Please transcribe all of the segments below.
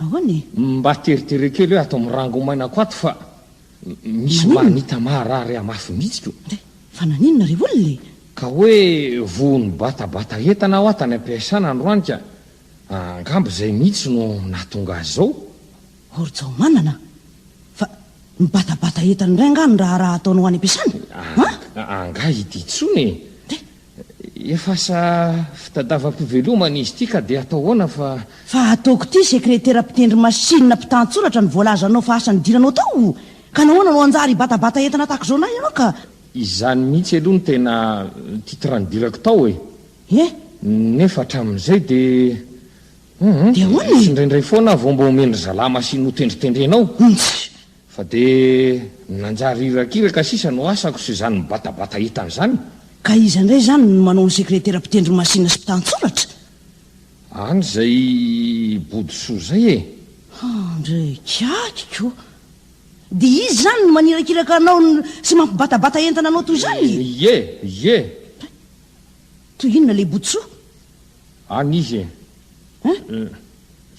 Ahoana e? Mba teritere kely hoe ato mirango maina ko ato fa misy manita maharary ahy mafy mihitsy ko. Dia fa naninona ry olona e? Ka hoe vohon'ny batabata entana hoa tany am-piasana androany ka angamba izay mihitsy no nahatonga azy izao. Or Jaomanana fa mibatabata entana indray angaha ny raharaha ataonao any am-piasana? An? Angaha ity intsony e? Dia Efa asa fitadavam-pivelomana izy ity ka dia atao ahoana fa. Fa ataoko ity sekretera mpitendry masinina mpitantsoratra ny voalazanao fa asa nidiranao tao o! Ka nahoana no hanjary hibatabata entana tahaka izao na ianao ka. Izany mihitsy aloha no tena titre nidirako tao e! He! Nefa hatramin'izay dia. Hum, hum, dia ahoana e? Indraindray foana aho vao mba omen-dry zalahy masinina ho tendritendrenao. Humph! Fa dia ny nanjary irakiraka sisa no asako sy izany mibatabata entana izany. Ka iza indray izany no manao ny sekretera mpitendry masinina sy mpitantsoratra? Any izay bodisoa izay e! Handrekakiko! Dia izy izany no manirakiraka anao sy mampibatabata entana anao toy izany e! Ie! Ie! Toy inona ilay bodisoa? Any izy e!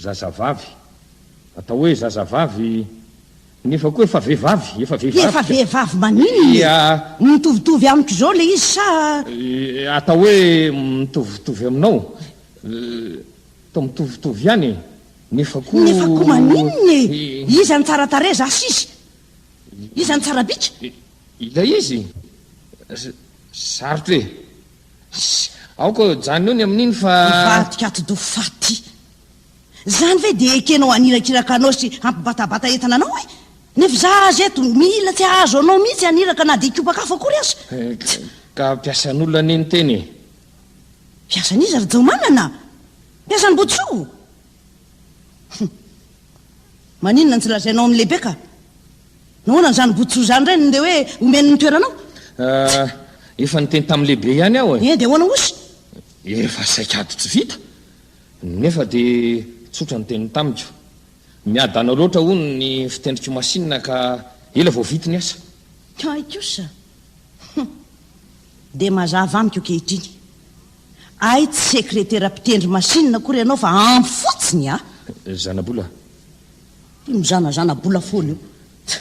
Zazavavy. Atao hoe zazavavy nefa koa efa vehivavy, efa vehivavy ka. Efa vehivavy maninona e? Ia. Mitovitovy amiko izao ilay izy sa? Atao hoe mitovitovy aminao. Atao mitovitovy ihany e. Nefa koa. Nefa koa maninona e? Iza no tsara tarehy, za sa izy? Iza no tsara bika? Ilay izy? Sarotra e. Aoka ajanony eo ny amin'iny fa. Hivadika atidoha faty. Izany ve dia ekenao hanirakiraka anao sy hampibatabata entana anao e? Ny fizaha azy eto, mila tsy hahazo anao mihitsy haniraka na dia kiopan-kafo akory aza. Eh, ka mpiasan'olona anie ny teny e! Mpiasan'iza ry Jaomanana? Mpiasan'i Botsoa? Hum. Maninona no tsy lazainao amin'ny lehibe ka? Nahoana an'izany Botsoa izany indray no ndeha hoe omeny ny toeranao? Ah, efa niteny tamin'ny lehibe ihany aho e! Eh, dia ahoana osa? Efa saika ady tsy vita. Nefa dia tsotra ny teniny tamiko. Miadana loatra, hono, ny fitendrik'i Masina ka ela vao vita ny asa. Hay kosa! Hum! Dia mazava amiko ankehitriny. Hay tsy sekretera mpitendry Masina akory ianao fa ampy fotsiny a! Zanabola. Io mizanazana bola foana io.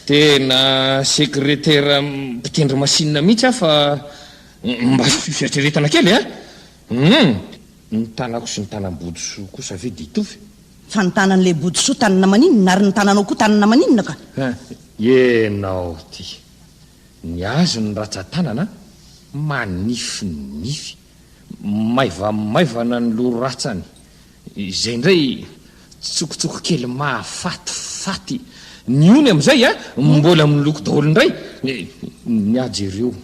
Tena sekretera mpitendry Masina mihitsy aho fa mba asio fieritreretana kely a! Humm! Ny tanako sy ny tanam-bodisoa kosa ve dia hitovy e? Fa ny tanan'ilay bodisoa tanana maninona ary ny tananao koa tanana maninona ka? Hum! Ianao ity! Ny azy ny ratsan-tanana an! Manify ny nify. Maivamaivana ny loha ratsany. Izay indray tsikotsoko kely mahafatifaty. Ny ony amin'izay an! Mbola miloko daholo indray. Ny ahy jereo.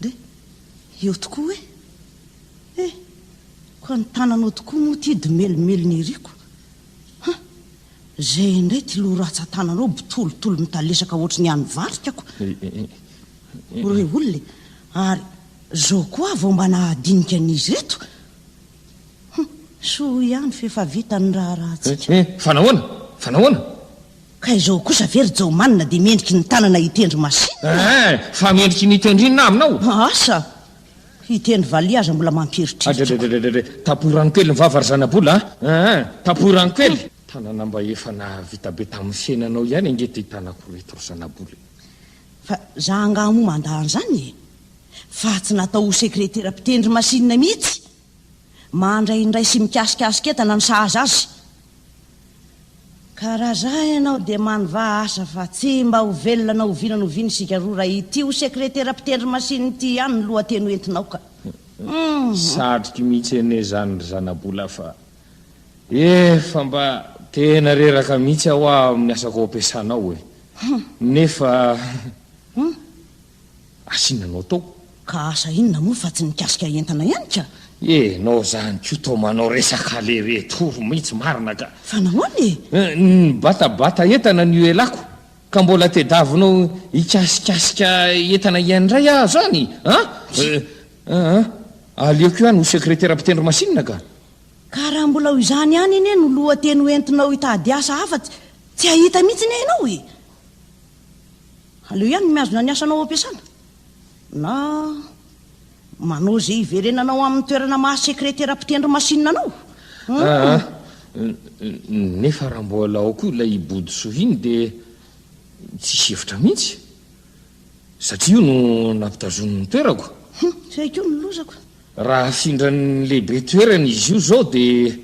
Dia eo tokoa hoe, Eh, koa ny tananao tokoa moa ity domelomelona ery ko. Huh, izay indray ity loha ratsan-tananao botolotolo mitalesaka hoatry ny an'ny varika ko. Ho re olona e, ary izao koa vao mba nahadinika an'izy ireto. Huh, soa ihany fa efa vita ny raharahantsika. Eh, eh, fa nahoana? Fa nahoana? Ka izao kosa ve ry Jaomanina dia mendriky ny tanana hitendry masinina? Eeh! Fa mendriky ny hitendry inona aminao? Asa! Hitendry valiha aza mbola mampieritreritra aho. Adredredre! Tapohy rano kely ny vava ry zanabola a! Eeh! Tapohy rano kely! Tanana mba efa nahavita be tamin'ny fiainanao ihany ange ity tanako ireto ry zanabola e! Fa za angaha moa mandà an'izany e! Fa tsy natao ho sekretera mpitendry masinina mihitsy! Mandray indray sy mikasikasika entana ny sahaza azy. Ka raha za ianao dia manovaha asa fa tsy mba ho velona na oviana na oviana isika roa raha ity ho sekretera mpitendry masina ity ihany ny lohateny ho entinao ka. Satroky mihitsy anie zany ry zanabola fa efa mba tena reraka mihitsy aho amin'ny asako ampiasanao e. Nefa. asinanao tao. Ka asa inona moa fa tsy nikasika entana ihany ka. Enao zany ko toa manao resaka lere tour mintsy marina ka. Fa nahoana e? Nibatabata entana ny uelako ka mbola tedavinao hikasikasika entana iany ndray aho zany an! Aa aleoko ihany ho sekretera mpitendry masinina ka. Ka raha mbola ho izany ihany anie no lohateny ho entinao hitady asa hafa tsy hahita mintsy anie enao e! Aleo ihany ny mihazona ny asanao ampiasana na manao izay hiverenanao amin'ny toerana maha sekretera mpitendry masinina anao. Hmm. Ah, ah. Nefa raha mbola ao koa ilay Bodosoa iny dia tsisy hevitra mihitsy. Satria io no nampitazoniny ny toerako. Hmm, tsy haiko ny lozako. Raha afindran'ny lehibe toerana izy io izao dia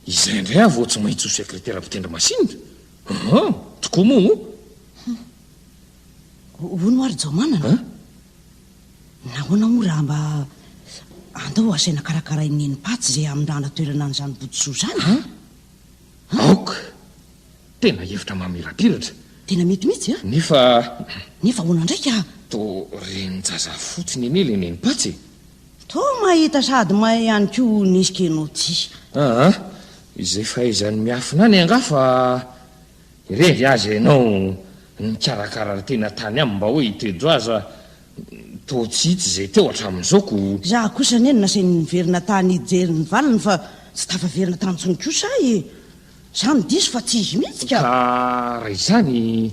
izay indray aho vao tsy maintsy ho sekretera mpitendry masinina. An! Tokoa moa o! Hum! Hono ary Jaomanana a! Nahoana moa raha mba andao asaina karakarain'i Nenimpaty izay hamindrana toerana an'izany bodosoa izany? An! Aoka! Tena hevitra mamirapiratra! Tena mety mihitsy a! Nefa. Nefa ahoana indray ka? Toa renin-jaza fotsiny anie ilay Nenimpaty e! Toa mahita sady mahay ihany koa nisy kenao ty. Aa, izay fahaizany miafina any angaha fa irevy aza ianao nikarakara ry tena tany aminy mba hoe i Tejo aza toa tsy hita izay teo hatramin'izao ko. Za kosa anie nasainy niverina tany hijery ny valiny fa tsy tafaverina tany intsony kosa ahy e! Za no diso fa tsy izy mihitsy ka! Ka raha izany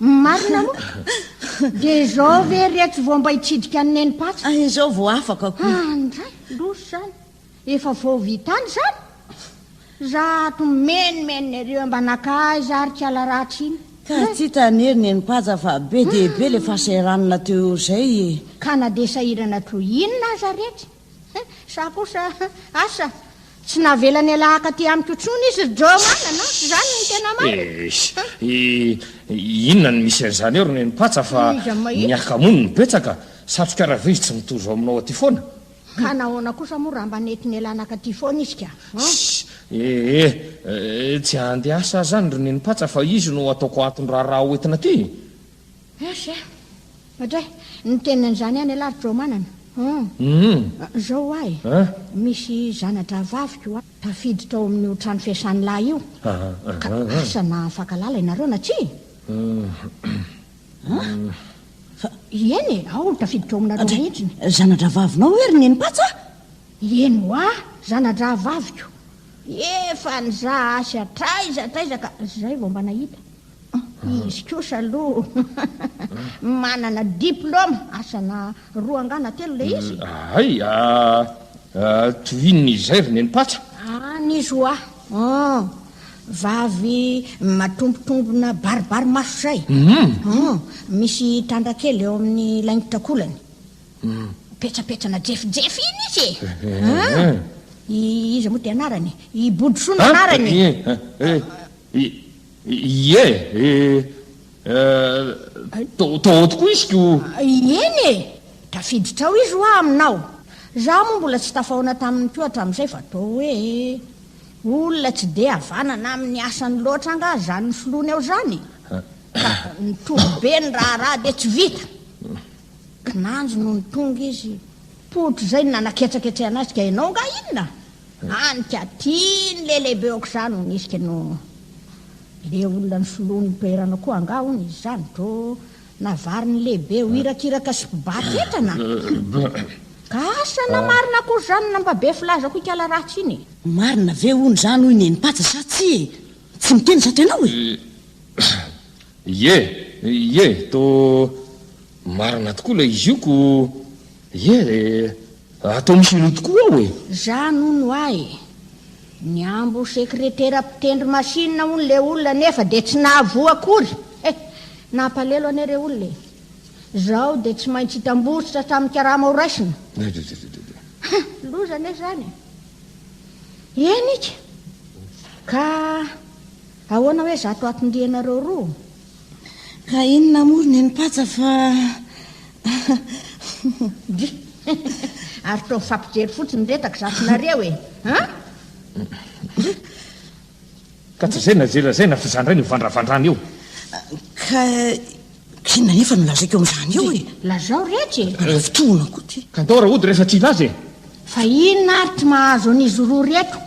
Marina moa ka. Dia izao ve iretsy vao mba hitsidika an'i Neny Patsy? Ah, izao vao afaka koa. Ah, ndray, losy izany. Efa vao vitany izany. Zato menomenona ireo mba naka aiza ary kiala ratsy iny. Ka aty tany ery Neny Patsy fa be dia be ilay fahasahiranana teo izay e. Ka na dia sahirana toy inona aza iretsy. Sa kosa asa tsy navela niala akaty amiko intsony izy ry Joe Manana? Izany no tena marina. Eh, inona no misy an'izany eo ry Nenimpatsa fa ny akamono no betsaka? Satroka rava izy tsy mitohy zao aminao aty foana? Ka nahoana kosa moa raha mba nety nialana akaty foana izy ka? Eh eh, tsy handeha asa aho izany ry Nenimpatsa fa izy no ataoko antony raharaha hoentina aty. Asa eh. Ohatra hoe ny tenin'izany any alah ry Traomanana. Hum. Hum. Zao ho ahy. An? Misy zana-drahavaviko a, tafiditra ao amin'io trano fiasan'ny lahy io. Aha. Ka asa na mifankalala ianareo na tsia? An? Fa ieny e, ao no tafiditra ao aminareo mihitsy. Andray, zana-drahavavinao hoe ry Nenipatsa? Ieny ho ahy, zana-drahavaviko. Efa nizaha asa hatraiza hatraiza ka zay vao mba nahita. Izy kosa aloha manana diplôme asana roa angaha na telo ilay izy. Hay, tohiny izay ry nenipatsa. Any izy hoa. Vavy matombotombona baribary maso izay. Misy tandra kely eo amin'ny laingotrakolany. Petsapetsana jefijefy iny izy e. Iza moa dia anarany? I Bodrosoa no anarany e. Ie eh, to, to ao tokoa izy ko. Eny e! Tafiditra ao izy hoa aminao. Izaho moa mbola tsy tafahaona taminy koa hatramin'izay fa toa hoe olona tsy dia havanana amin'ny asany loatra angaha izany nisoloany ao izany e! Ka nitohy be ny raharaha dia tsy vita. Kinanjo nony tonga izy, poitra izay ny nanaketsaketsehana azy ka ianao angaha inona? Lanika tiany le lehibe okzany hono izy kno le olona nisoloany ny toerana koa angaha hono izy zany dro navariny lehibe ho irakiraka sy mpibata entana ka asa na marina akory zany na mba be filaza koa ikala ratsy iny e. Marina ve hono izany hoy Nenimpaja sa tsia e? Tsy miteny zato ianao e! Ie, ie, to marina tokoa ilay izy io ko ie e! Raha toa misy ireo tokoa ao e! Zany hono ahy e! Nihambo ho sekretera mpitendry machine hono le olona nefa dia tsy nahavoa akory eh! Nampalelo anie re olona e! Zao dia tsy maintsy hitambotsitra hatramin'ny karama ho raisina. Ha! Loza anie zany e! Eny ika! Ka ahoana hoe zato aton-dianareo roa? Ka inona moa ry nenipatsa fa Ary toa mifampijery fotsiny miretaka zafinareo e! Ka tsy izay najery an'izay na f'izany indray no ivandravandrana eo. Ka inona anefa no lazaiko amin'izany eo e! Lazao rehetra e! Raha fitohina koa ty. Ka ndao raha hody rehefa tsy hilaza e! Fa inona ary tsy mahazo an'izy roa reto?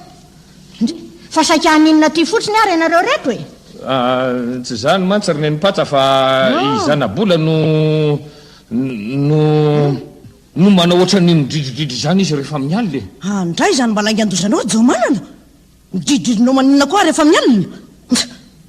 Ndry, fa saika haninona aty fotsiny ary ianareo reto e? Ah, tsy izany mantsy ry Nenipatsa fa i ah. Zanabola no no no manao ohatran'ny midridridridry izany izy rehefa amin'ny alina e. Ah, ndray izany mba laingan-dozanao Jaomanana? Midridridridrinao maninona koa rehefa amin'ny alina?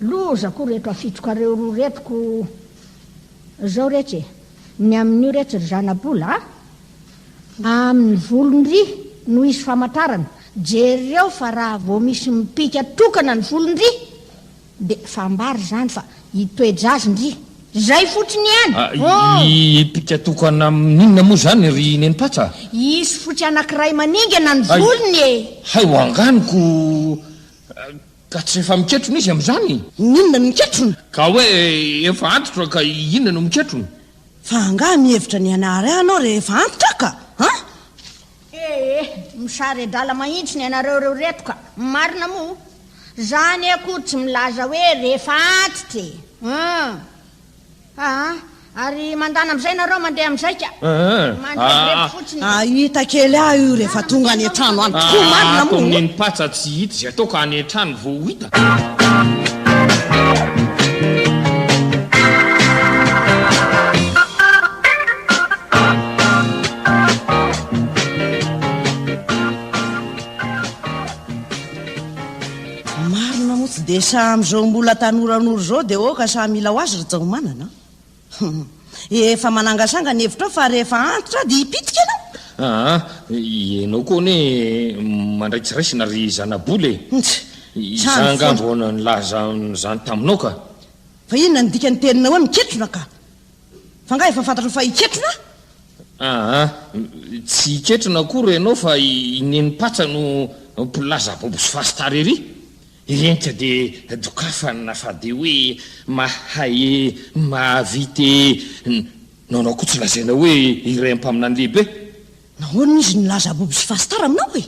Loza ko reto afitroka reo roa reto ko zao retsy e! Ny amin'io retsy ry zanabola a! Amin'ny volon-dry no hisy famatarana, jereo fa raha vao misy mipika tokana ny volon-dry de fambara izany fa hitoe-jazin-dry! Zay fotsiny ihany! Hipika tokana amin'inona moa izany ry Nenipatsa a! Hisy fotsy anakiray maningana ny volony e! Hay ho anganiko! Ka tsy efa miketrona izy amin'izany? Ny inona no miketrona? Ka hoe efa antitra ka inona no miketrona? Fa angaha mihevitra ny hanary ahy ianao rehefa antitra ka? Ha? Eh eh, misare-drala mahitsy ny anareo ireo reto ka! Marina moa? Za anie akory tsy milaza hoe rehefa antitra e! Hum! Aa! Ary mandana amin'izay nareo mandeha amin'zaika. Mandrebireby fotsiny. Aa! Ahita kely ahy io rehefa tonga any an-trano any tokoa. Aa! Marina moa ato amin'ny ny patsa tsy hita izay atao ka any an-trano vao ho hita. Marina moa tsy dia sahy amin'izao mbola tanoranora izao dia oka sahy mila ho azy ry Jaomanana. Efa manangasanga ny hevitrao fa rehefa antitra dia hipitika ianao. Aa, ah, ianao koa anie mandraitsiraisina ry zanabola e. Izaho angamba vao nilaza an'izany taminao ka. Fa inona ny dikan'ny teninao hoe miketrona ka? Fa nga efa fantatrao fa hiketrona? Aa, tsy hiketrona akory ianao fa i Nenim-patsa no mpilaza bobo sy fastara ery. Irenika dia dokafany na fa dia hoe mahay e, mahavita e. Nanao koa tsy lazaina hoe iray amin'ny mpaminany lehibe. Nahoana izy nilaza bobo sy fastara aminao e?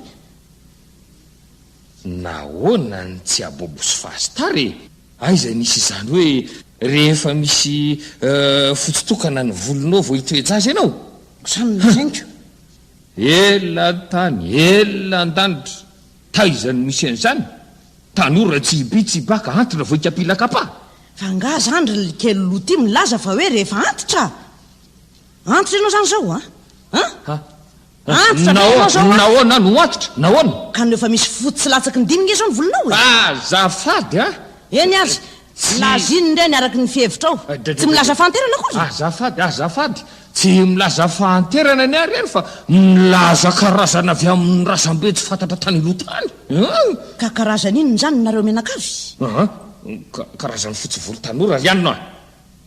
Nahoana ny tsy abobo sy fahastar e? Aiza nisy izany hoe rehefa misy fotsy tokana ny volonao vao hitoe-jaza ianao? Sa nolazainko? Ela an-tany, ela an-danitra, taiza no misy an'izany? Tanora tsy hibi tsy hibaka, antitra vao hikapila kapa? Fa angaha izany ry likely loha ity milaza fa hoe rehefa antitra? Antitra ianao izany izao an? An? Antitra ve ianao zao a? Nahoana no antitra? Nahoana? Ka no efa misy fotsy sy latsaky ny dimy nge zao ny volonao e! Azafady a! Eny ary! Lazino ireny araky ny fihevitrao. Tsy milaza fahanterana akory! Azafady, azafady! Tsy milaza fahanterana ny ahy ireny fa milaza karazana avy amin'ny razambe tsy fantatra tany aloha tany an! Ka karazana inona izany nareo mianakavy? An! Ka karazan'ny fotsy volo tanora ry anona!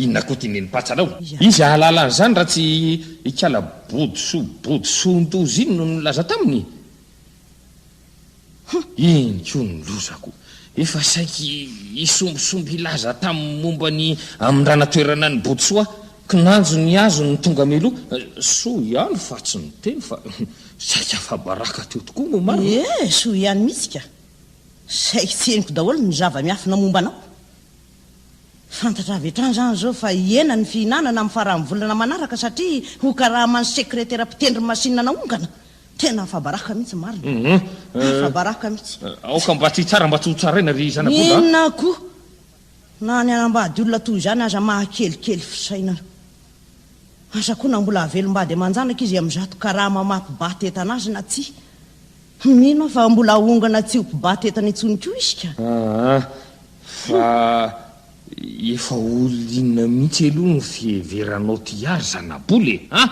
Inona koa ty nenipatsa anao? Izy hahalala an'izany raha tsy ikala bodisoa bodisoan-doza iny no nilaza taminy? Iny koa ny lozako, efa saiky hisombisomby hilaza taminy momba ny amindranatoerana ny bodisoa, kinanjo ny azony ny tonga mialoha, soa ihany fa tsy niteny fa saiky afa-baraka teo tokoa moa marina? Ie, soa ihany mihitsy ka! Saiky tsy henoko daholo ny zava-miafina momba anao. Fantatra avy hatrany izany izao fa hihena ny fihinanana amin'ny faran'ny volana manaraka satria ho karaman'ny sekretera mpitendry masinina naongana. Tena afa-baraka mihitsy marina. Afa-baraka mihitsy. Aoka mba tsy hitsara mba tsy hotsaraina ry zanak'omby a! Inona koa? Na ny hanambady olona toy izany aza mahakelikely fisainana. Asa koa na mbola hahavelom-bady aman-janaka izy amin'izato karama maha-mpibata entana azy na tsia. Mino aho fa mbola haongana tsy ho mpibata entana intsony koa isika. Aa, fa efa olona inona mihitsy aloha no fiheveranao ty ary zanabola e? An!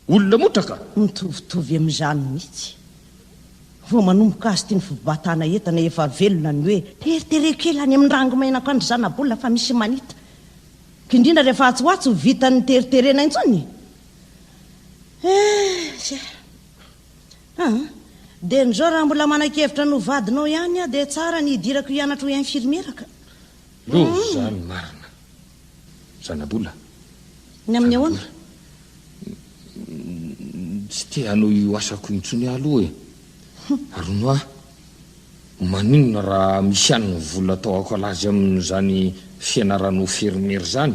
Olona motra ka! Mitovitovy amin'izany mihitsy. Vao manomboka azy ity ny fibatana entana efa velona ny hoe. Teritereo kely any amin'ny rangomainako any ry zanabola fa misy manita. Indrindra rehefa atsy ho atsy ho vitan'ny teriterena intsony. Ee, zay. Aa! Dia nizao raha mbola manakevitra ny ho vadinao ihany aho dia tsara ny hidirako hianatra ho infirmiera ka. Loza ny marina. Zanabola. Ny amin'ny ahoana? Tsy te hanohy io asako io intsony aho aloha e. Arono aho. Maninona raha misy ihany ny vola atao akolazy amin'izany fianarana ho fermiera izany?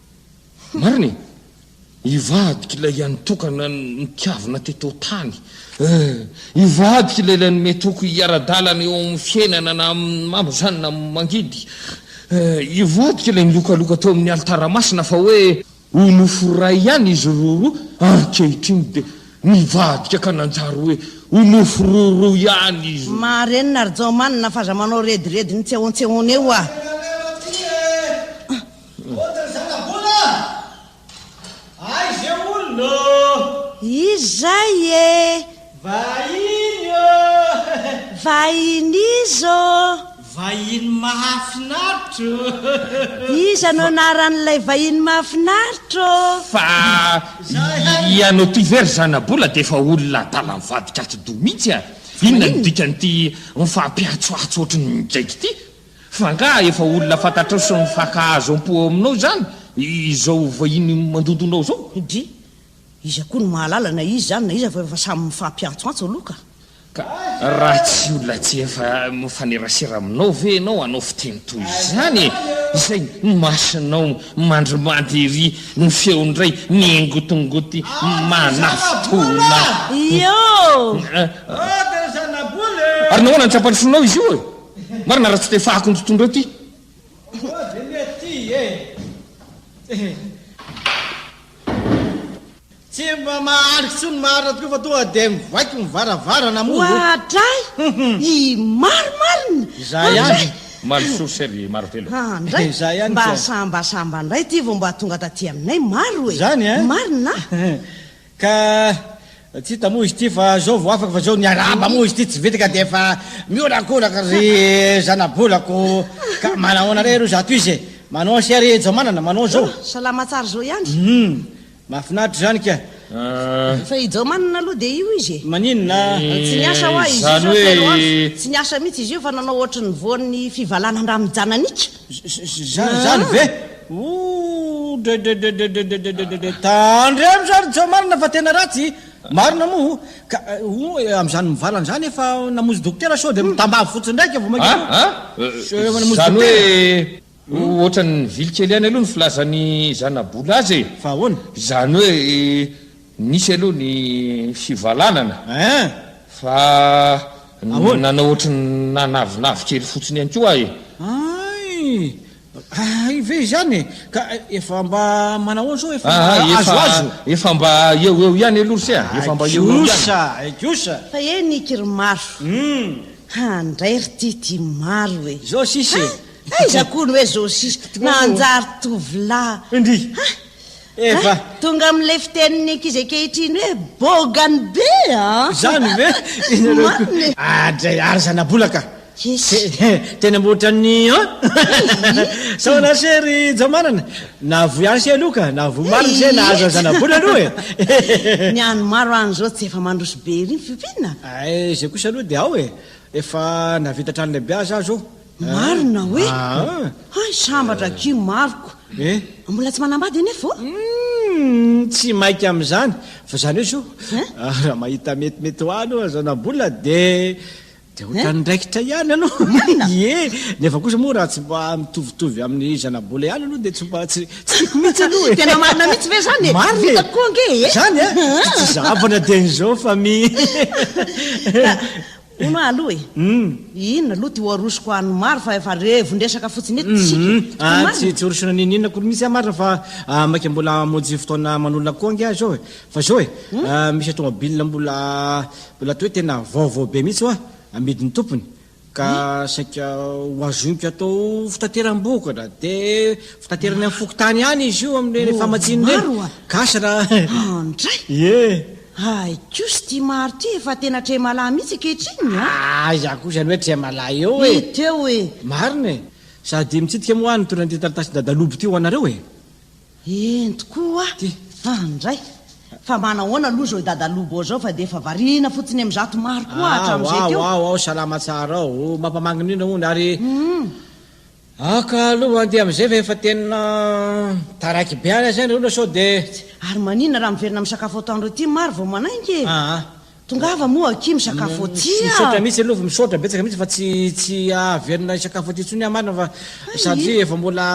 Marina e! Hivadika ilay hianitokana ny tiavina teto tany. Eh, hivadika ilay ilay nomety hoko hiara-dalana eo amin'ny fiainana na amin'ny mamo izany na amin'ny mangidy. Eh, hivadika ilay nilokaloka teo amin'ny alitara masina fa hoe ho nofo iray ihany izy roroa, ankehitriny dia nivadika ka nanjary hoe ho nofo roroa ihany izy. Marenina ry Jaomanina fa aza manao rediredin'ny tsehontsehona eo ah. Tena leo aty eh. Contre zanabola a! Aiza eo olona ô! Izay ee! Vahiny ô! Vahiny iza ô! Vahiny mahafinaritra ô! Iza no anaran'ilay vahiny mahafinaritra ô! Fa ianao ty ve ry zanabola dia efa olona adala mivadika atidoha mihitsy a! Inona no dikan'ity mifampiantsoantso ohatry ny midraiky ity? F'angaha efa olona fantatrao sy mifankahazo am-po ao aminao izany izao vahiny mandondonao izao? Dry, iza koa no mahalala na izy izany na iza fa efa samy mifampiantsoantso aloha ka! Ka raha tsy olona tsy efa mifanerasera aminao ve ianao hanao fiteny toy izany e? Izay ny masonao mandrimandry ery ny feo indray mihingotingoty manafitona. Ioo! Ary nahoana no tsapan'ny fonao izy io e? Marina raha tsy te fahako ny tontolo reo Tsy mba mahary tsy ny marina tokoa fa toa dia mivaiko ny varavarana moa. Oadray! I Maro marina! Izaho ihany. Maro source ry Maro telo. Ah, ndray. Izaho ihany mba sambasamba ndray ity vao mba tonga taty aminay Maro e. Izany eh? Marina? Ka tsy hita moa izy ity fa zao vao afaka fa zao niarahaba moa izy ity tsy vita ka dia efa miolakolaka ry zanabolako ka manahoana re ro zato izy e manahoana se ry jaomanana manao zao salama tsara zao ihany hum mahafinaritra izany ka fa i jaomanana aloha dia io izy e maninona tsy niasa hoa izy io zao telo andro tsy niasa mihitsy izy io fa nanao ohatry ny voan'ny fivalana an-dRamijananiaka Zany zany ve? Ooh dredredredredredredredredre tandry amza ry Jao marina fa tena ratsy i Marina moa o ka ooh e amzany mivalana zany efa namonjy dokotera sao de mitambavy fotsiny ndraika vao mankeo a a zany hoe ohatran'ny nivily kely ihany aloha ny filazan'i Zanabola azy e fa ahoana? zany hoe Nisy aloha ny fivalanana fa nanao ohatry ny nanavinavy kely fotsiny ihany koa aho e! Hay! Hay ve izany e! Ka efa mba manao ahoana sao efa mba azoazo? Efa mba eo eo ihany aloha se a! Efa mba eo eo ihany! Aigiosa! Aigiosa! Fa eny iky ry Maro! Handray ry Tity Maro e! Zao sisa e! Hay! Aiza koa ny hoe zao sisa? Nanjary tovolahy! Ndrii! Efa. Hay, tonga amin'ilay fitenin'ny ankizy ankehitriny hoe bogany be a! Izany ve? Ianareo koa. Marina e. Adray ary zanabolaka. Yes. Te- he, Tena mba ohatran'ny an? Sao anase ry Jamanana? Nahavoa ihany se aloha ka, nahavoa marina se nahazo an'i zanabola aloha e! Ny an'ny maro any izao tsy efa mandroso be ery ny fiompiana? Ay, izay kosa aloha dia ao e! Efa nahavita trano lehibe aza aho izao. Marina hoe hay sambatra aky Marco. Eh? Mbola tsy manambady anefa ô? Hmm, tsy maika amin'izany. Fa izany hoe zo, ah, raha mahita metimety ho any aza na mbola dia dia ohatran'ny raikitra ihany aloha. Marina. Ie, nefa kosa moa raha tsy mba mitovitovy amin'ny zanabola ihany aloha dia tsy mba tsy tsy tiako mihitsy aloha e. Tena marina mihitsy ve izany e? Marina e. Vita koa ange e. Izany a? Tsy zavona dia an'izao fa mi. Hono aho aloha e. Inona aloha ty ho arosoko an'ny maro fa efa revon-dresaka fotsiny eto isika e. Tsy marina? Tsy tsy horosoana n'inon'inona akory mihitsy aho marina fa ah, maika mbola hamonjy fotoana manolana koa ange aho izao e. Fa izao e, ah, misy atomobile mbola mbola toa hoe tena vaovao be mihitsy hoa, amidin'ny tompony. Ka saika ho azoniko atao fitateram-bokatra. Dia fitaterana any fokontany any izy io amin'ireny famatsiana ireny. Maro hoa. Gasy raha. An-dray! Ie. Hay kosa ity Maro ity efa tena tremalahy mihitsy ankehitriny a! Aiza kosa ny hoe tremalahy eo e! Hita eo e! Marina e! Sady mitsidika moa aho ny toeran'ity taratasin-dadaluby ity ho anareo e! Eny tokoa a! An indray! Fa mba nahoana aloha izao i dadalubo izao fa dia efa variana fotsiny amin'ny zato maro koa hatramin'izay teo! Ao ao ao ao! Salama tsara ao! Mampamangy indrindra hono ary Aka aloha handeha amin'izay fa efa tena taraiky be any aza ny olona sao dia tsy. Ary maninona raha miverina misakafo atoandro aty Maro vao manainga e? Aa. Tongava moa akia misakafo aty a! Misaotra mihitsy aloha, misaotra betsaka mihitsy fa tsy tsy hahaverina hisakafo aty intsony aho marina fa satria efa mbola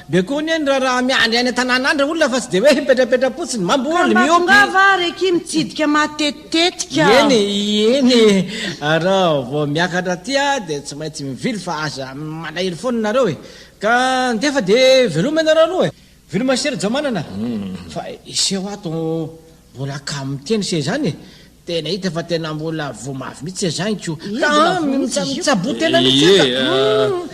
be koa anie ny raharaha miandry any an-tanàna any ry olona fa tsy dia hoe mipetrapetra-potsiny, mamboly, miompy. Ka mba tongava ary akia mitsidika matetika. Tetika. Ieny ieny e! Arao vao miakatra aty a dia tsy maintsy mivily fa aza malahelo foana nareo e! Ka ndefa de veloma ianareo aloha e! Veloma Sera Jamanana a! Fa iseho ato mbola kamo miteny se izany e! Tena hita fa tena mbola voa mavy mihitsy se izany ko! Ka mitsaboa tena mihitsy aza!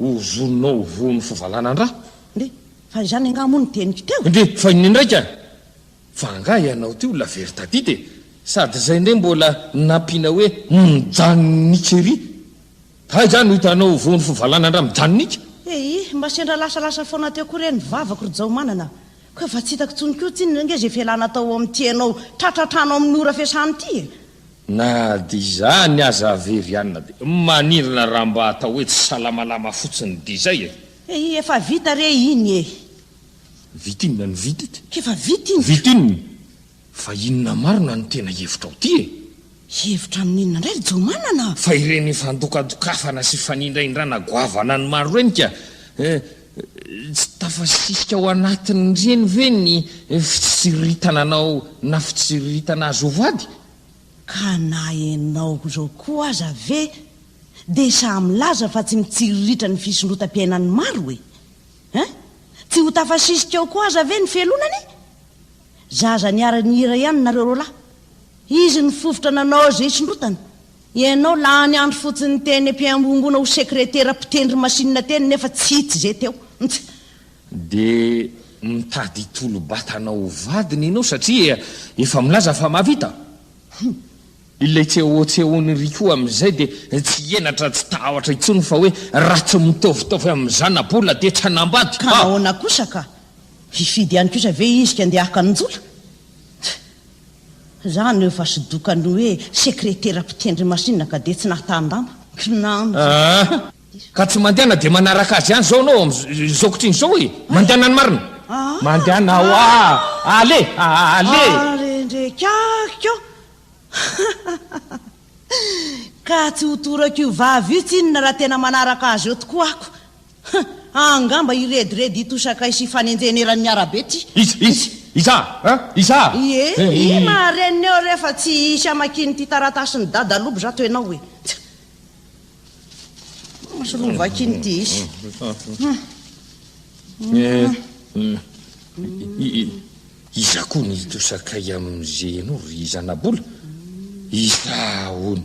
Ho vononao ho voan'ny fivalanan-dra. Ndry, fa izany angaha moa no teniko teo e! Ndry, fa inona indray ka? Fa angaha ianao ty olona very tadita e! Sady izay indray mbola nampiana hoe mijanonika ery. Aiza no hitanao ho voan'ny fivalanan-dra mijanonika? Ehi, mba sendra lasalasa foana teo koa re ny vavako ry Jaomanana. Koa efa tsy hitako intsony koa tsinona ange izay fialana atao ao amin'ity ianao tratratranao amin'ny ora fiasana ity e! Na dia izany aza very anina be. Maninona raha mba atao hoe tsy salamalama fotsiny dia izay e! Ehi efa vita re iny ehi. Vita inona no vita ity? Efa vita iny ka! Vita inona? Fa inona marina no tena hevitra ao ty e? Hevitra amin'inona indray ry Jomanana? Fa ireny fandokadokafana sy fanindraindrana goavana an'i Maro ireny ka! eh! Tsy tafasisika ao anatin'ireny ve ny fitsiriritana anao na fitsiriritana azy ho vady? Ka na ianao izao koa aza ve dia sahy milaza fa tsy mitsiriritra ny fisondrotam-piainan'ny maro e? Hein? Tsy ho tafasisika ao koa aza ve ny fialonana e? Zaza niara-nihira ihany nareo roalahy. Izy nifofotra nanao izay isondrotana. Ianao lany andro fotsiny teny ampiangongoana ho sekretera mpitendry masinina teny nefa tsy hitsy izay teo. Ntsy. Dia mitady hitolo-batana ho vadiny ianao satria efa milaza fa mahavita? Hum. Ilay tsehotsehon'i Rico amin'izay dia tsy henatra tsy tahotra intsony fa hoe raha tsy mitaovitaovy amin'ny zana-bola dia tsy hanambady. Ka nahoana kosa ka? Hifidy ihany kosa ve izy ka ndeha haka an'i Njola? Ntsy. Za no efa sdoka ny hoe sekretera mpitendry masinina ka dia tsy nahatahan-damba. Kinanjo. Aa! Ka tsy mandehana dia manaraka azy ihany zao anao amin'izao kotriny izao e! Mandehana ny marina! Aa! Mandehana hoa! Ale! Ale! Arendrekakiko! Ka tsy ho torako io vava io tsinona raha tena manaraka azy eo tokoa ako! Huh! Angamba i Rediredy hitosakay sy hifanenjehina eran'ny arabe ty. Iza? Iza? Iza? Hein? Iza? Ie, ie maharenina eo rehefa tsy hisy hamakian'ity taratasin'i Dada Lobo zato ianao hoe. Tsa. Masy roa vakiny ty hisy. Iza koa ny hitosakay amin'izay ianao ry Zanabola? Iza hono?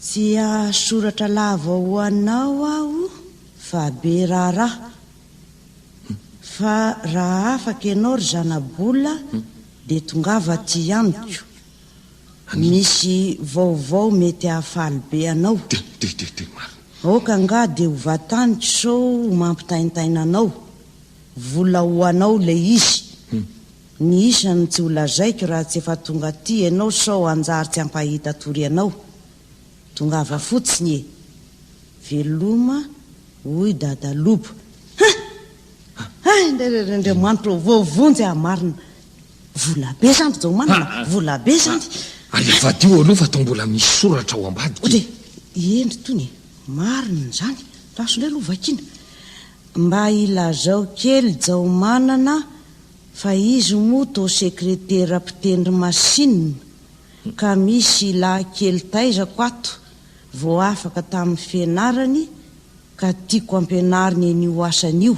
Tsy hahasoratra lava ho anao aho fa be raharaha. Fa raha afaka ianao ry zanabola dia tongava aty amiko. Misy vaovao mety hahafaly be anao. Aoka angaha dia ho vataniko sao ho mampitaintaina anao. Vola ho anao ilay izy. Ny isany tsy ho lazaiko raha tsy efa tonga aty ianao sao hanjary tsy hampahita tory anao. Tongava fotsiny e! Veloma hoy Dadalobo. Hein! Hay Andriamanitra ô! Voavonjy aho marina! Vola be zany ry Jaomanana, vola be zany! Ary avadiho aloha fa toa mbola misy soratra ao ambadika e! Eny itony e! Marina izany! Raso indray aloha vakiana! Mba ilazao kely Jaomanana! Fa izy moa toa sekretera mpitendry masinina ka misy lahy kely taizako ato vao afaka tamin'ny fianarany ka tiako ampianariny an'io asany io.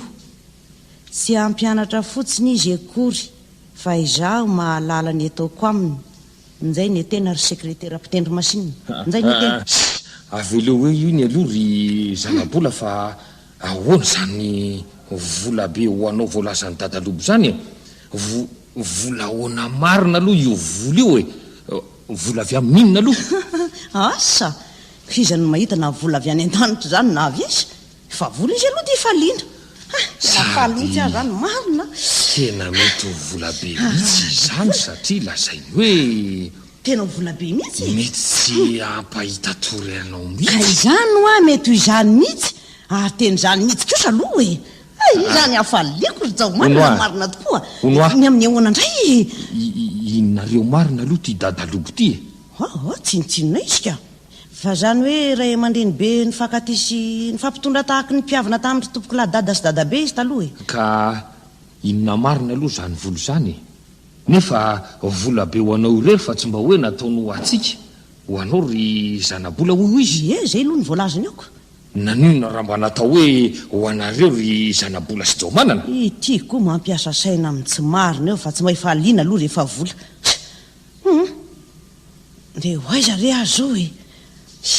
Tsy hampianatra fotsiny izy akory fa izaho mahalala ny ataoko aminy. Njay ne tena ry sekretera mpitendry masinina. Njay ne tena. Tsia, aveleo eo io ny aloha ry zanabola fa Ahoana izany vola be ho anao voalazan'i Dadalobo izany e? Vo, vola ahoana marina aloha io vola io e? Vola avy amin'inona aloha? Asa! F'iza no mahita na vola avy any an-danitra izany na avy aiza? Fa vola izy aloha dia faliana. Ha! Na faly mihitsy aza izany marina a! Tena mety ho vola be mihitsy izany satria lazainy hoe. Tena ho vola be mihitsy e! Mety tsy hampahita tory anao mihitsy. Ka izany hoa mety ho izany mihitsy ary tena izany mihitsy kosa aloha e! Hay izany hafaliako ry Jaomanina Hono a! marina tokoa! Hono a! Ny amin'ny ahoana indray e? I, i, inonareo marina aloha ity dada lobo ity e? Hoho, tsinontsinona izy ka! Fa izany hoe ray aman-dreny be nifankatia sy nifampitondra tahaky ny mpihavina tamin' ry tompokolahy dada sy dadabe izy taloha e! Ka inona marina aloha izany vola izany e? Nefa vola be ho anao irery fa tsy mba hoe nataony ho antsika, ho anao ry zanabola hoy izy. Ie, izay aloha no voalazany aoka. Naninona raha mba natao hoe ho anareo ry zanabola sy jaomanana? Ity koa mampiasa saina amin'ny tsy marina eo fa tsy mahefaliana aloha rehefa vola. Hum. Ndeha ho aiza re aho zao e!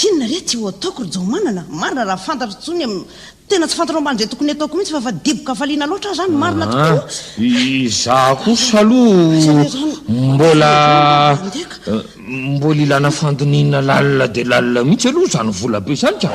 Inona re ty ho ataoko ry Jaomanana? Marina raha fantatro intsony am Tena tsy fantanao mba an'izay tokony ataoko mihitsy fa fa dibo kafaliana loatra aho zany marina tokoa Aa izaho kosa aloha mbola mbola ilana fandinihina lalina dia lalina mihitsy aloha izany volabe izany ka!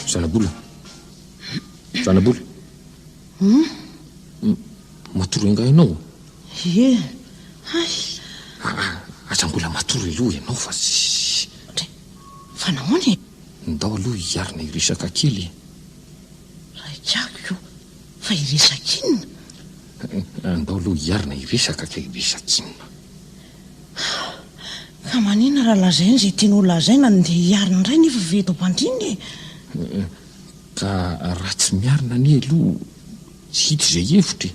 Zanabola. Zanabola. Hmm? Matory angaha ianao? Ie. Hay. Ah, aza mbola matory aloha ianao fa... Fa nahoana e? Ndao aloha hiarina hiresaka kely e! Raikako io, fa hiresak'inona? Ndao aloha hiarina hiresaka ka hiresak'inona? Ka maninona raha lazainy izay tiany ho lazaina no ndeha hiarina indray nefa ve eto am-pandriana e? Ka raha tsy miarina anie aloha tsy hita izay hevitra e!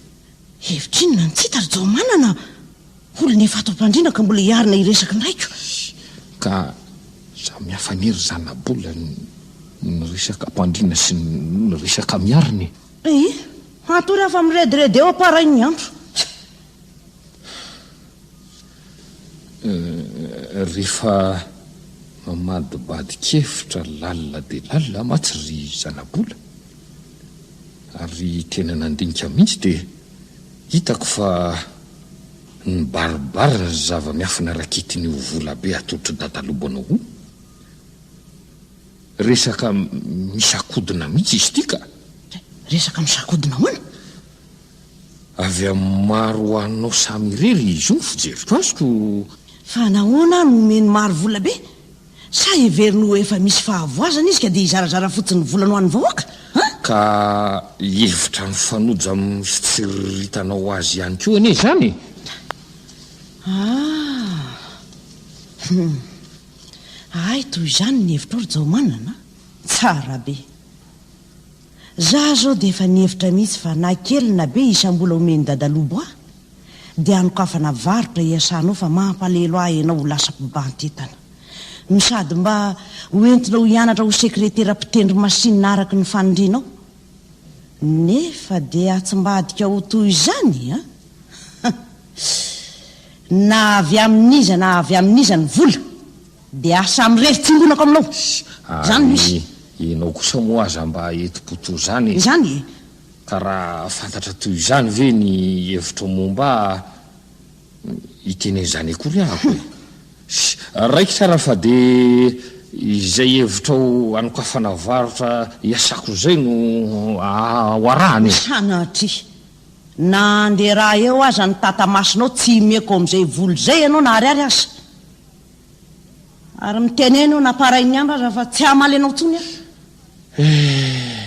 Hevitr'inona no tsy hita ry Jaomanana? Olona efa ato am-pandriana ka mbola hiarina hiresaka an-draiko. Ka samy hafa anie ry zanabola ny resaka am-pandriana sy ny resaka miarina e. Ee, hatory aho fa mirediredy eo am-parain'ny andro. Rehefa mamadibadin-kevitra lalina dia lalina mantsy ry zanabola, ary tena nandinika mihitsy dia. Hitako fa nibaribary ny zava-miafina rakitin'io volabe atolotry dadalobanao io. Resaka misakodina mihitsy izy ity ka! Resaka misakodina ahoana? Avy amin'ny maro ho anao samy irery izy io ny fijeriko azy ko! Fa nahoana no omeny maro volabe? Sa heveriny ho efa misy fahavoazana izy ka dia hizarazara fotsiny ny volany ho an'ny vahoaka an? Ka hihevitra mifanojo amin'ny fitsiriritanao azy ihany koa anie izany e! Ah! Hum! Ahay toy izany ny hevitrao ry Jaomanana a! Tsara be! Za zao dia efa nihevitra mihitsy fa na kely na be isam-bola omen'i Dadalobo ahy dia hanokafana varotra iasanao fa mampalahelo ahy ianao ho lasa mpibanty entana no sady mba ho entinao hianatra ho sekretera mpitendry masinina araky ny fanindrianao nefa dia atsimbadika ho toy izany an! Na avy amin'iza na avy amin'iza ny vola! Dia asa mirery tsimbonako aminao. Izany no izy. Ary ianao kosa moa aza mba enti-po toa izany e! Izany e! Ka raha fantatra toy izany ve ny hevitrao momba ahy, hiteny an'izany akory aho e! Raikitra ary fa dia izay hevitrao hanokafana varotra hiasako izay no ho arahana e! Sanatria! Na handeha raha eo aza ny tata-masonao tsy himeko amin'izay vola izay ianao na ariary aza! Ary mitenena eo namparain'ny andrana fa tsy hamaly anao intsony aho. Eh!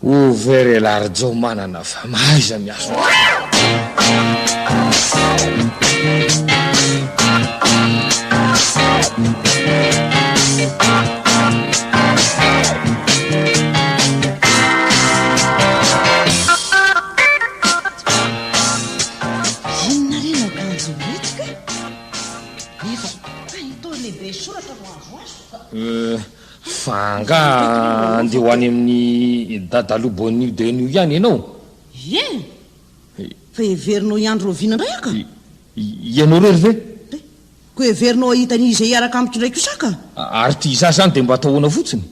Ouvert elarjo manana fa mahaiza miasa. Inona re io akanjo ireto kay? Iza? Fa itoy lehibe soratra no azo azo ka. Euh, fa angaha andeha ho any amin'ny dadaloha Bonio Denio ihany ianao? Ie! Fa heverinao hiandry Lovina indray aho ka. Ianao irery ve? Dia koa heverinao hahita an'iza hiaraka amiko indray kosa aho ka. Ary ty izaho izany dia mba atao ahoana fotsiny?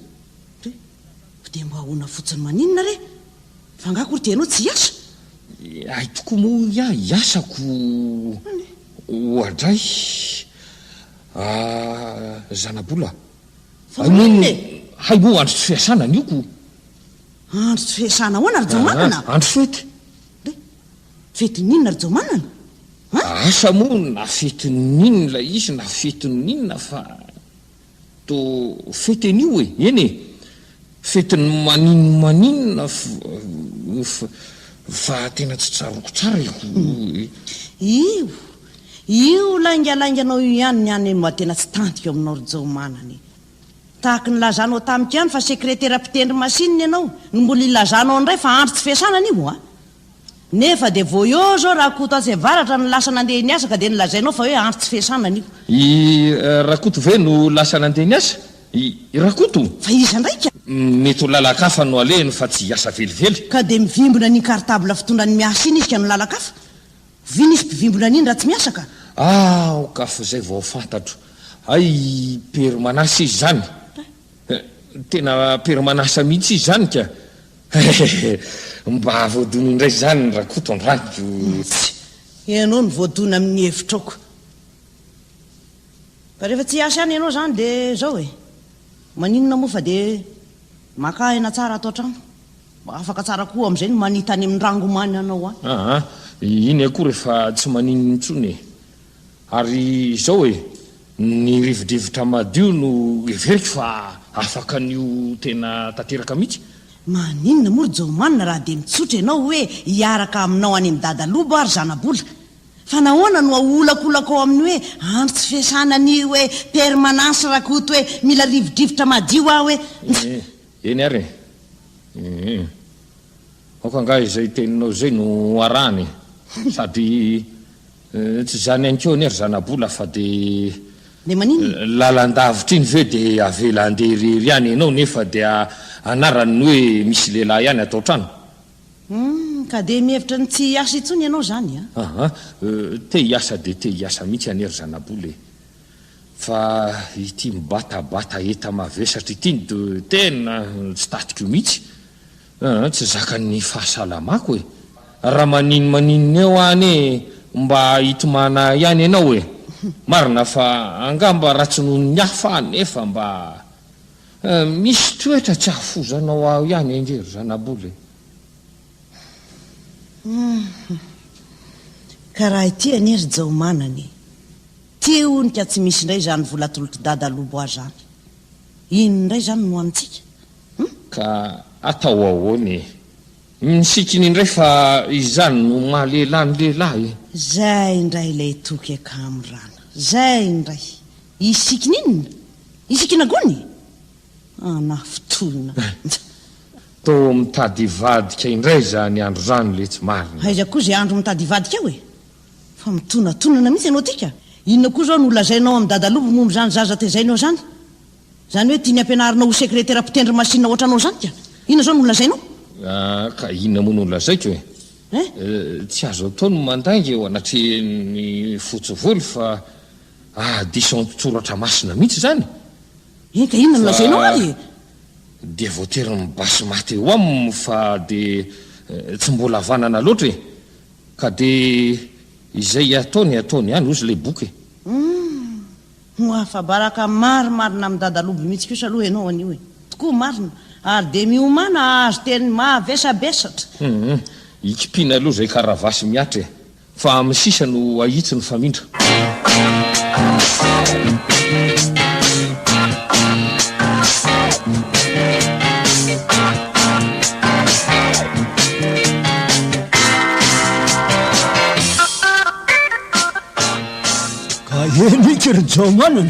Dia, dia mba ahoana fotsiny maninona re? Fa angaha akory dia ianao tsy hiasa? Hay tokoa moa hoy aho hiasako oadray a zanabola a! Moa hay moa andro tsy fiasana ny oko? Andro tsy fiasana ahoana ry Jaomanana? Andro fety. Dia fetin'inona ry Jaomanana? Asa moa na fetin'inona ilay izy na fetin'inona fa To fety anio e! Eny e! Fetin'ny maninona maninona fa tena tsy tsaroako tsara e! Io! Io laingalainganao io ihany ny an'ny mba tena tsy tantiko aminao ry Jaomanana e! Tahaka ny nilazanao tamiko ihany fa sekretera mpitendry masinina ianao no mbola ilazanao indray fa andro tsy fiasana anio a! Nefa dia vao eo izao Rakoto atsy avaratra no lasa nandeha niasa ka dia nolazainao fa hoe andro tsy fiasana anio. I Rakoto ve no lasa nandeha niasa? I Rakoto? Fa iza indray ka? Mety ho lalan-kafa no alehiny fa tsy hiasa velively. Ka dia mivimbina an'iny cartable fitondrany miasa iny izy ka no lalan-kafa? Vy nisy mpivimbina an'iny raha tsy miasa ka. Aoka fa izay vao fantatro. Hay i Père Manasa izy izany. Tena Père Manasa mihitsy izy izany ka. Hehehe! Mba voadona indray izany Rakoto an-drano. Tsia! Ianao no voadona amin'ny hevitrao ko. Fa rehefa tsy hiasa ihany ianao izany dia izao e! Maninona moa fa dia maka aina tsara ato an-trano. Mba afaka tsara koa amin'izay ny manita any amin'ny rangomany anao any. Aa! Iny akory efa tsy manino intsony e! Ary izao e, ny rivodrivotra madio no heveriko fa afaka ny ho tena tanteraka mihitsy. Maninona moa ry Jaomanina raha dia mitsotra ianao hoe hiaraka aminao any amin'i Dada Lobo aho ry zana-bola? Fa nahoana no aolakolako ao amin'ny hoe andro tsy fiasana ny hoe permanence raha koto hoe mila rivodrivotra madio aho hoe ntsy? Eny ary e. Aoka angaha izay teninao izay no arahana e. Sady Tsy izany ihany koa anie ry zanabola fa dia. Dia maninona? Lalandavitra iny ve dia avela handeha irery ihany ianao nefa dia anarany ny hoe misy lehilahy ihany ato an-trano? Humm, ka dia mihevitra ny tsy hiasa intsony ianao izany an? Aha, te hiasa dia te hiasa mihitsy anie ry zanabola e! Fa ity mibatabata enta-mavesatra ity no tena tsy tatiko mihitsy. Aa tsy zakan'ny fahasalamako e! Raha maninn maninona eo aho anie mba hitomana ahy ihany ianao e! Marina fa angamba ratsy noho ny hafa aho nefa mba eh, misy toetra tsy ahafozanao aho ihany ange ry zanabola e! Hum. Ka raha ity anie ry Jaomanana e! Ty hono ka tsy misy indray izany vola atolotr'i Dada Loboa izany. Inona indray izany no ho amintsika? Hum? Ka atao ahoana e? Misikina indray fa izany no maha lehilahy ny lehilahy e! Zay indray ilay toky akamo rana. Zay indray. Hisikina inona? Hisikina gony? Anah fotoana. Toa mitady hivadika indray izany andro izany le tsy marina. Aiza koa izay andro mitady hivadika eo e? Fa mitonatonana mihitsy ianao ity ka! Inona koa izao no lazainao amin'i Dadalobo momba izany zaza tezainao izany? Zany hoe tiany ampianarinao ho sekretera mpitendry masinina ohatranao zany ka. Inona zao no nolazainao? Ah, ka inona moa no nolazaiko e? Eh? Tsy azo atao ny mandainga eo anatrehan'ny fotsy volo fa ahadiso an-tsoratra masina mihitsy zany. Eny ka inona no nolazainao ary e? Dia voatery nibasy maty eo aminy fa dia tsy mbola havanana loatra e. Ka dia izay ataony ataony ihany ozy ilay boky e. Hum. Ho afabaraka marimarina amin'ny dadaloby mihitsy kosa aloha ianao anio e! Tokoa marina ary dia miomàna hahazo teny mahavesabesatra. Humm, ikipiana aloha izay karavasy mihatra e! Fa amin'ny sisa no ahitsy ny famindra. Aheno iky ry Jaomanana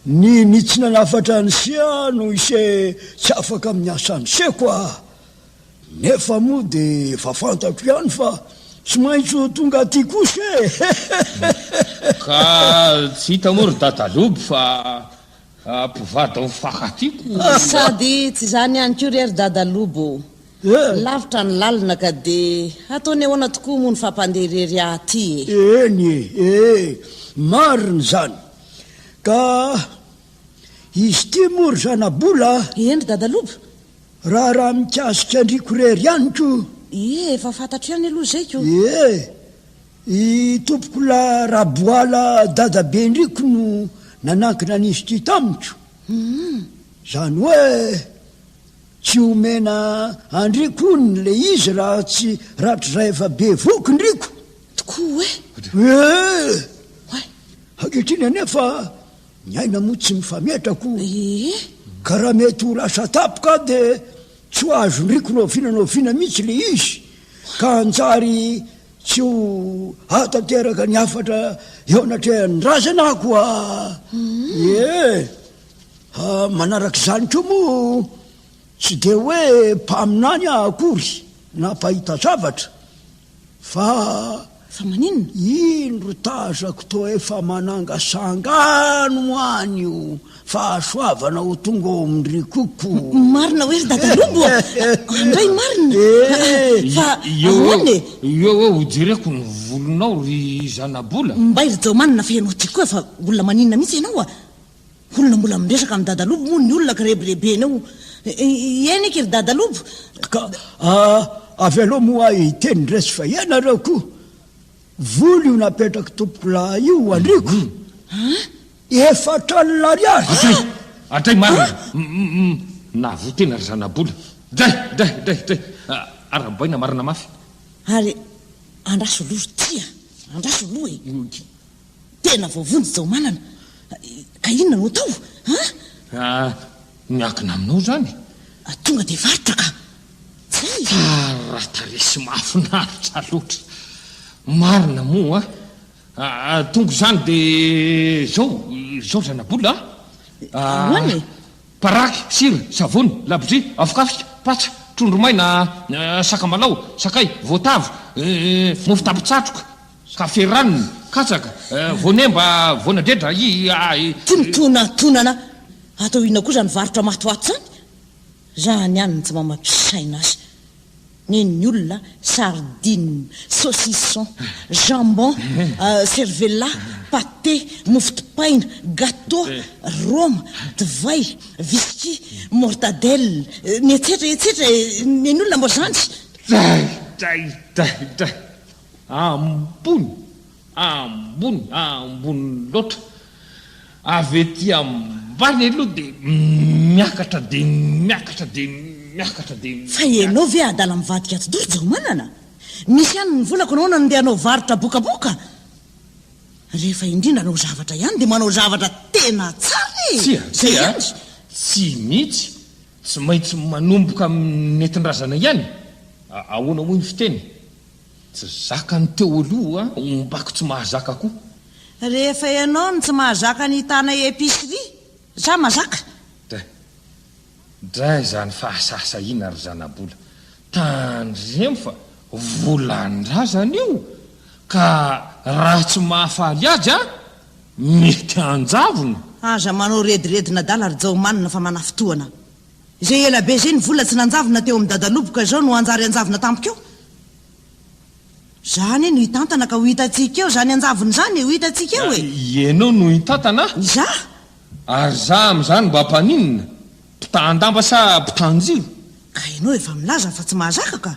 Ny ny tsy nanafatra an'i Sia no ise tsy afaka amin'ny asan'i Se kwa a! Nefa moa dia efa fantako ihany fa tsy maintsy ho tonga aty koa Se e! Ka tsy hita moa ry Dadaloby fa mpivady ao Faka aty ko! Sady tsy izany ihany koa re ry Dadaloby o! Lavitra ny lalina ka dia ataony ahoana tokoa moa ny fampandeha irery ahy ity e! Eny e! ee! marina izany! Ka izy ity moa ry zanabola a! Eny ry dadaloba! Raharaha mikasika an-driako irery ihany koa! Ee! efa fantatro ihany aloha izay ko! Ee! i tompokolahy Raboala dadaben-driako no nanankina an'izy ity tamiko! Hum! Izany hoe. Tsy omena andri kony le izy raha tsy ratr'izay efa be voky ndriko. Tokoa oe. Ee. Oe. Ankehitriny anie fa ny aina moa tsy mifametrako. Ee. Ka raha mety ho lasa tapoka de tsy ho azo ndriko noviana noviana mihitsy le izy ka hanjary tsy ho ahatanteraka ny hafatra eo anatrehan'ny razana ako a. Ee. Manaraka izany koa moa tsy dia hoe mpaminany aho akory na mpahita zavatra fa Fa maninona? iny ry tazako toa efa manangasanga any ho any io fahasoavana ho tonga ao amin'ny rikoko. Marina hoe ry dada Lobo a! Handray marina! Eh! Fa ahoana e? Eo eo ho jereko ny volonao ry zanabola. Mbay ry Jaomanina fa ianao ty koa fa olona maninona mihitsy ianao a! Olona mbola miresaka amin'i Dadalobo moa ny olona kirebirebena eo. Eny eky ry Dadalobo. Ka ah, avelao moa ahy hiteny indray sy fa ianareo koa. Vola io napetrak'i Tompokolahy io ho andriko. Efatra alina ariary. Adray! Adray marina! Nahavoa tena ry zanabola. Dray! Dray! Dray! Dray! Arahabaina marina mafy. Ary andraso loha ry tia, andraso loha e. Tena voavonjy Jaomanana. Ka inona no atao? An? Ah, miankina aminao izany. Ah, tonga dia varotra ka. Zay. Tsara tarehy sy mahafinaritra loatra. Marina moa. Ah, tonga izany dia izao, izao zanabola ah. Ahoana e? Paraky, sira, savony, labozia, afokafika, patsa, trondro maina, sakamalao, sakay, voatavo, mofo tampon-tsatroka. Ka feraniny, katsaka, voanemba, voanadredra, i, a, i. Ty mitonatonana atao inona koa zany varotra matoato zany? Zany ihany no tsy mamadro saina azy. Nen'ny olona sardine, saucisson, jambon, cervella, pate, mofo dipaina, gateau, roma, divay, whisky, mortadelle, ny etsetra etsetra e, nen'ny olona moa zany. Dray, dray, dray, dray. Ambony! Ambony! Ambony loatra! Avy ety ambany aloha dia miakatra dia miakatra dia miakatra dia miakatra. Fa ianao ve adala mivadika ato doro Jaomanana? Misy ihany ny volako nahoana no ndeha hanao varotra bokaboka? Rehefa indrindra hanao zavatra ihany dia manao zavatra tena tsara e! Tsia, tsia, tsy mihitsy, tsy maintsy manomboka amin'ny nentin-drazana ihany e! Ahoana moa io fiteny? Tsy zakany teo aloha ombako tsy mahazaka koa. Rehefa ianao no tsy mahazaka ny hitana epicerie, za mazaka. Dray. Dray zany fa asasahiana ry zanabola. Tandremo fa volandrazana io ka raha tsy mahafaly azy an, mety hanjavona. Aza manao rediredin'adala ry Jaomanina fa manafintohana. Zay ela be zay ny vola tsy nanjavona teo amin'ny dadaloboka zao no hanjary hanjavona tampoka eo? Za anie no hitantana ka ho hitantsika eo zany hanjavona zany e, ho hitantsika eo e! Ianao no hitantana? Izaho? Ary za amin'izany mba mpaninona? Mpitahan-damba sa mpitan-jiro? Ka ianao efa milaza fa tsy mahazaka ka!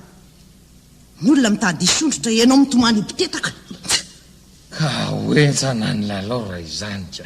Ny olona mitady hisondrotra, ianao mitomany ho mpitetaka! Ka ho henjana ny lalao raha izany ka!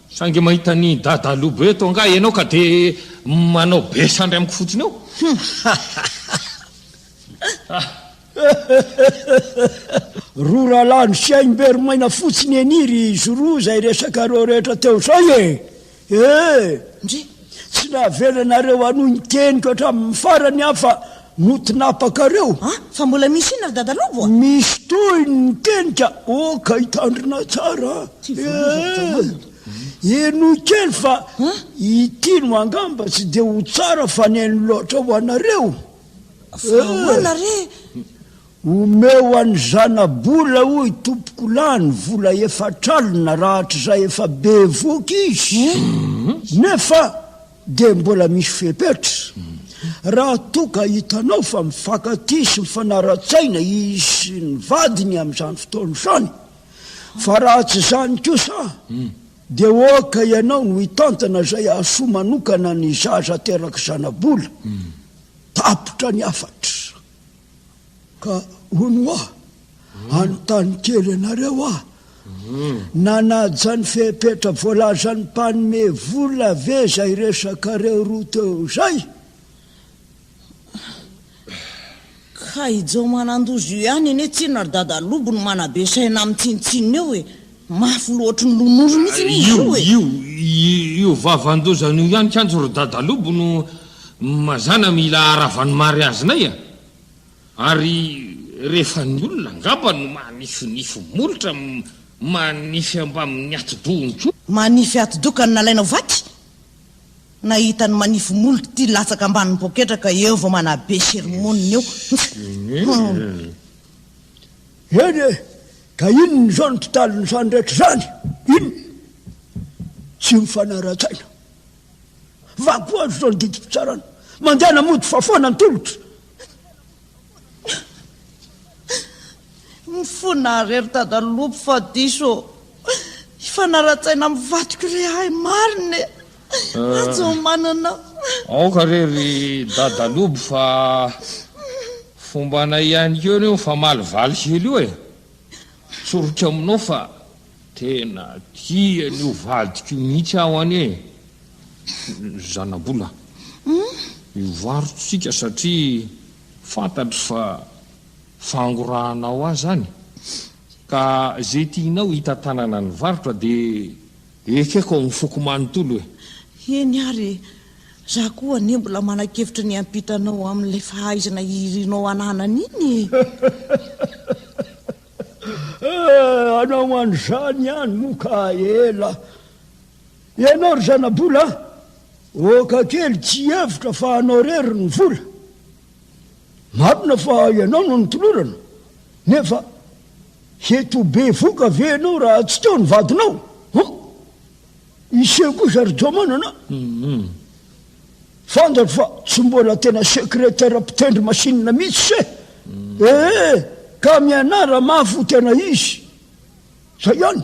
Saingy mahita an'i Dada Lobo eto angaha ianao ka dia manao be sandry amiko fotsiny eo? Roa rahalahy nisaim-be ry maina fotsiny anie ry Zoro izay resakareo rehetra teo izay e! Eh! Ndry! Tsy nahavelanareo hanohy ny teniko hatramin'ny farany aho fa No tinapakareo? A! Fa mbola misy inona ry Dada Lobo a? Misy tohiny ny teny ka! Oh ka hitandrina tsara a! Eh! Henoy kely fa ity no angamba tsy dia ho tsara faneno loatra ho anareo. Fa ahoana re? Omeo an'i Zanabola hoy tompoko lahy ny vola efatr'alina raha hatrizay efa bevoka izy. Nefa Dia mbola misy fepetra, raha toa ka hitanao fa mifankatia sy mifanara-tsaina izy sy ny vadiny amin'izany fotoana izany, fa raha tsy izany kosa dia oka ianao no hitantana izay hahasoa manokana ny zaza aterak'i Zanabola. Tapitra ny hafatra. Ka hono hoa, anontany kely anareo hoa, nanaja ny fepetra voalazan'ny mpanome vola ve izay resakareo roa teo izay? Ka i Jao manandoza io ihany anie tsinona ry dada lobo no manabe saina amin'ny tsinontsinona eo e! Mafy loatry ny lon'ondry mihitsy anie izy io e! Io, io vavan-doza an'io ihany kanjo ry dadalobo no mazàna mila aravan'ny mariazinay a! Ary rehefa ny olona angamba no manifinify molotra, manify ambamin'ny atidohany koa. Manify atidoha ka nalainao vaky? Nahita ny manify molotra ity latsaka ambanin'ny poketra ka eo vao manabe sermonina eo. Hum! Eny e! Ka inona izao ny totalin'izany rehetra izany? Inona? Tsy mifanara-tsaina. Vakoazo izao ny didim-pitsarana. Mandehana mody fa foana ny tolotra. Mifona àry ry dada lopy fa diso ô. Hifanara-tsaina amin'ny vadiko re ahy marina e! Ajomo manana fa. Aoka re ry dada lobo fa fombanay ihany keo reo mifamaly valy hely io e. Tsoriko aminao fa tena tia an'io vadiko io mihitsy aho anie e. Ry zanabola, mivarotsika satria fantatro fa fangorahanao ahy zany ka ze tianao hitantanana ny varotra de Ekeko ao amin'ny foko manontolo e! Eny ary e! Za koa anie mbola manan-kevitra ny hiampita anao amin'ilay fahaizana irinao ananana iny e! Eh, hanao an'izany ihany moa ka ela! Ianao ry zanabola a! Oka kely tsy hihevitra fa anao irery ny vola! Marina fa ianao no notolorana, nefa hety ho be voka ve ianao raha tsy teo ny vadinao? Hum! Hiseho kosa ry Jomanana a! Fantatro fa tsy mbola tena secrétaire mpitendry masinina mihitsy eh! Ee, ka mianara mafy ho tena izy! Izay ihany!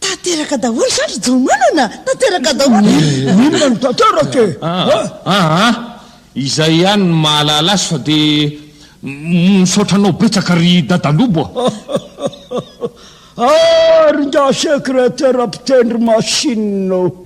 Tanteraka daholo izany ry Jaomanana a! Tanteraka daholo e! Inona no tanteraka e? Aa! Izay ihany no mahalala azy fa dia misaotra anao betsaka ry Dada Lobo a! Ary ingahy sekretera mpitendry machine ô!